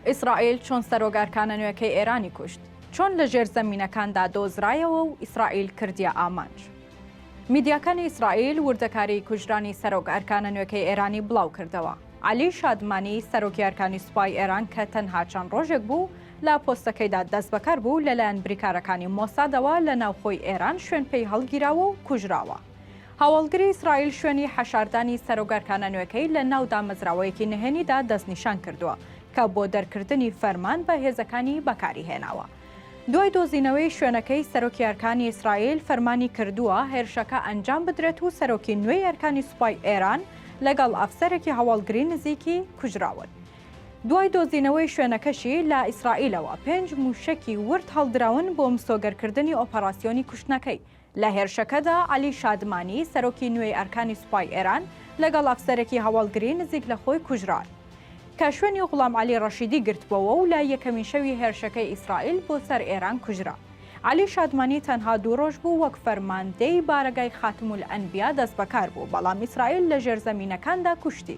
ئیسرائیل چۆن سەرۆک ئەرکانە نوێکەی ئێرانی کوشت؟ چۆن لە ژێر زەمینەکاندا دۆزرایەوە و ئیسرائیل کردیە ئامانج؟ میدیاکانی ئیسرائیل وردەکاریی کوژرانی سەرۆک ئەرکانە نوێکەی ئێرانی بڵاوکردەوە. عەلی شادمانی، سەرۆکی ئەرکانی سوپای ئێران کە تەنها چەند ڕۆژێک بوو لە پۆستەکەیدا دەستبەکار بوو، لەلایەن بریکارەکانی مۆسادەوە لە ناوخۆی ئێران شوێنپێی هەڵگیراوە و کوژراوە. هەواڵگری ئیسرائیل شوێنی حەشاردانی سەرۆک ئەرکانە نوێکەی لە ناو دامەزراوەیەکی نهێنیدا دەستنیشان کردووە کە بۆ دەرکردنی فەرمان بە هێزەکانی بەکاری هێناوە. دوای دۆزینەوەی شوێنەکەی، سەرۆکی ئەرکانی ئیسرائیل فەرمانی کردووە هێرشەکە ئەنجام بدرێت و سەرۆکی نوێی ئەرکانی سوپای ئێران لەگەڵ ئەفسەرێکی هەواڵگری نزیکی کوژراون. دوای دۆزینەوەی شوێنەکەشی، لە ئیسرائیلەوە پێنج مووشەکی ورد هەڵدراون بۆ مسۆگەرکردنی ئۆپەراسیۆنی کوشتنەکەی. لە هێرشەکەدا عەلی شادمانی، سەرۆکی نوێی ئەرکانی سوپای ئێران لەگەڵ ئەفسەرێکی هەواڵگری نزیک لە خۆی کوژران، کە شوێنی غوڵام عەلی ڕەشیدی گرتبۆوە و لە یەکەمین شەوی هێرشەکەی ئیسرائیل بۆ سەر ئێران کوژرا. عەلی شادمانی تەنها دوو ڕۆژ بوو وەک فەرماندەی بارەگای خاتمولئەنبیا دەستبەکار بوو، بەڵام ئیسرائیل لە ژێرزەمینەکاندا کوشتی.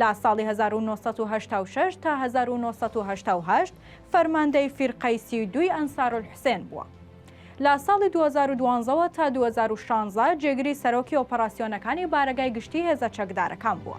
لە ساڵی هەزار و نۆ سەد و هەشتا و شەش تا هەزار و نۆ سەد و هەشتا و هەشت فەرماندەی فیرقەی سی و دووی ئەنسارولحسێن بووە. لە ساڵی دوو هەزار و دوازدە وە تا دوو هەزار و شانزە جێگری سەرۆکی ئۆپەراسیۆنەکانی بارەگای گشتی هێزە چەکدارەکان بووە.